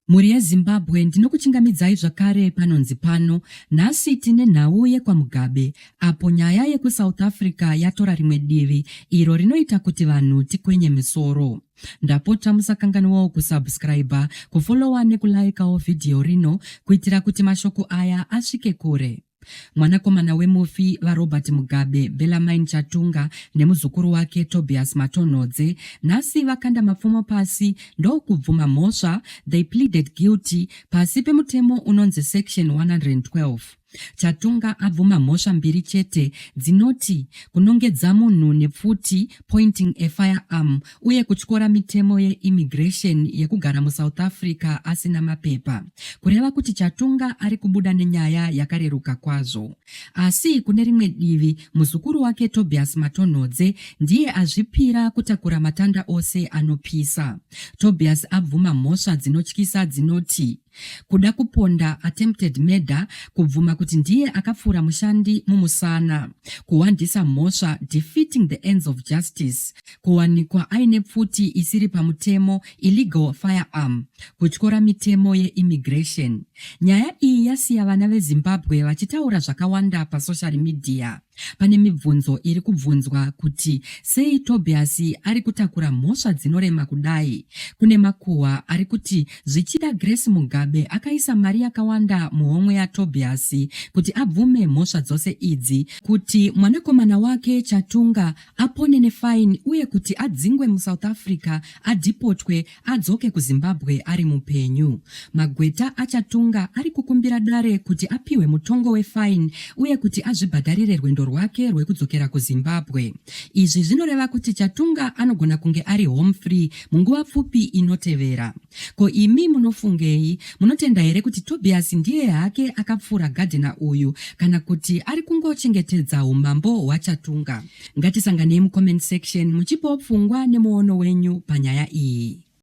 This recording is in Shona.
Mhuri yeZimbabwe ndinokuchingamidzai zvakare panonzi pano. Nhasi tine nhau yekwaMugabe apo nyaya yekuSouth Africa yatora rimwe divi iro rinoita kuti vanhu tikwenye misoro. Ndapota musakanganwawo kusubscriber, kufollower nekulaikawo vhidhiyo rino kuitira kuti mashoko aya asvike kure. Mwanakomana wemufi VaRobert Mugabe, Bellarmine Chatunga, nemuzukuru wake Tobias Matonhodze nhasi vakanda mapfumo pasi ndokubvuma mhosva they pleaded guilty pasi pemutemo unonzi section 112. Chatunga abvuma mhosva mbiri chete dzinoti kunongedza munhu nepfuti, pointing a fire arm uye kutyora mitemo yeimmigration yekugara musouth africa asina mapepa kureva kuti chatunga ari kubuda nenyaya yakareruka kwazvo asi kune rimwe divi muzukuru wake tobias matonhodze ndiye azvipira kutakura matanda ose anopisa tobias abvuma mhosva dzinotyisa dzinoti kuda kuponda attempted murder kubvuma kuti ndiye akapfuura mushandi mumusana kuwandisa mhosva defeating the ends of justice kuwanikwa aine pfuti isiri pamutemo illegal firearm kutyora mitemo yeimmigration nyaya iyi yasiya vana vezimbabwe vachitaura zvakawanda pasocial media Pane mibvunzo iri kubvunzwa kuti sei Tobiasi ari kutakura mhosva dzinorema kudai. Kune makuhwa ari kuti zvichida Grace Mugabe akaisa mari yakawanda muhomwe yaTobiasi kuti abvume mhosva dzose idzi, kuti mwanakomana wake Chatunga apone nefaini uye kuti adzingwe muSouth Africa, adhipotwe adzoke kuzimbabwe ari mupenyu magweta achatunga ari kukumbira dare kuti apiwe mutongo wefine uye kuti azvibhadharire rwendo rwake rwekudzokera kuzimbabwe izvi zvinoreva kuti chatunga anogona kunge ari home free munguva pfupi inotevera ko imi munofungei munotenda here kuti tobias ndiye hake akapfuura gadhena uyu kana kuti ari kungochengetedza umambo hwachatunga Ngatisanganei mucomment section muchipawo pfungwa nemuono wenyu panyaya iyi.